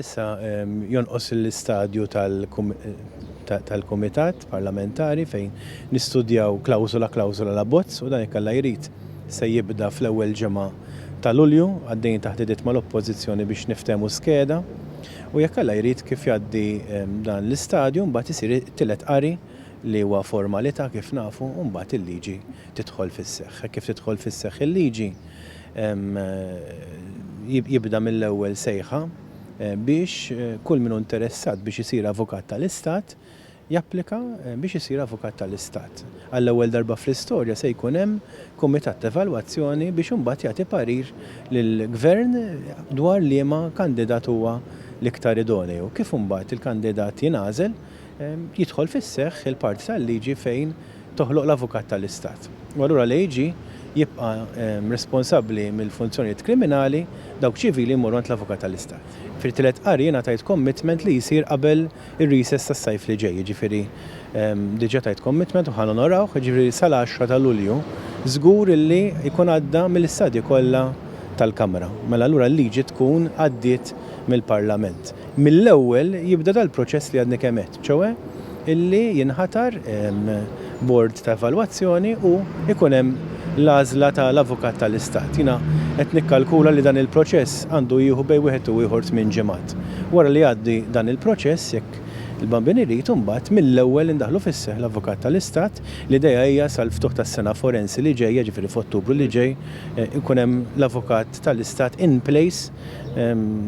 Issa jonqos l-istadju tal-Kumitat Parlamentari fejn nistudjaw klawsula klawsula la bozz u dan ikkalla jrid se jibda fl-ewwel ġimgħa ta' Lulju għaddejjin taħt idiet mal-Oppożizzjoni biex niftehmu skeda u jekk Alla jrid kif jgħaddi dan l-istadju mbagħad isir it-tielet qari li huwa formalità kif nafu u mbagħad il-liġi tidħol fis-seħħ. Hekk kif tidħol fis-seħħ il-liġi jibda mill-ewwel sejħa biex kull min hu interessat biex isir Avukat tal-Istat japplika biex isir Avukat tal-Istat. Għall-ewwel darba fl-istorja se jkun hemm Kumitat ta' Evalwazzjoni biex imbagħad jagħti parir lill-Gvern dwar liema kandidat huwa l-iktar idoneju. Kif imbagħad il-kandidat jingħażel, jidħol fis-seħħ il-parti tal-liġi fejn toħloq l-avukat tal-Istat. U allura l-AG jibqa' responsabbli mill-funzjonijiet kriminali, dawk ċivili jmorru għand l-avukat tal-Istat. Fit-tielet qari jiena tajt commitment li jsir qabel ir-recess tas-sajf li ġej, jiġifieri diġà tajt commitment u ħa nonorawh, jiġifieri sal-għaxra ta' Lulju żgur illi jkun għadda mill-istadji kollha tal-Kamra. Mela allura l-liġi tkun għaddiet mill-Parlament. Mill-ewwel jibda dal-proċess li għadni kemm għedt, ċoe illi jinħatar bord ta' evalwazzjoni u jkun hemm l-għażla ta' l-Avukat ta' l-Istat. Jiena qed nikkalkula li dan il-proċess għandu jieħu bejn wieħed u ieħor tmien ġimgħat. Wara li jgħaddi dan il-proċess, jekk il-bambin irid, imbagħad mill-ewwel indaħħlu fis-seħħ l-Avukat ta' l-Istat. L-idea hija sal-ftuħ tas-sena forensi li ġejja, jiġifieri f'Ottubru li ġej, ikun hemm l-Avukat ta' l-Istat in place.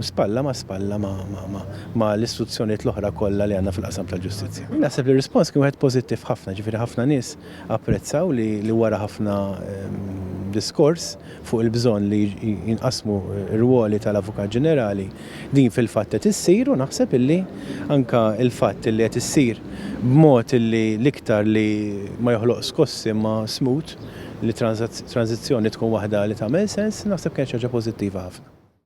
spalla ma' spalla ma' l-istituzzjonijiet l-oħra kollha li għandna fil-qasam tal-ġustizzja. Naħseb li r-rispons kien wieħed pożittiv ħafna, ġifieri ħafna nies apprezzaw li wara ħafna diskors fuq il-bżonn li jinqasmu r-rwoli tal-Avukat Ġenerali, din fil-fatt qed issir u naħseb illi anke l-fatt illi qed issir b'mod illi l-iktar li ma joħloq skossi imma smooth, li t-tranżizzjoni tkun waħda li tagħmel sens, naħseb kienet xi ħaġa pożittiva ħafna.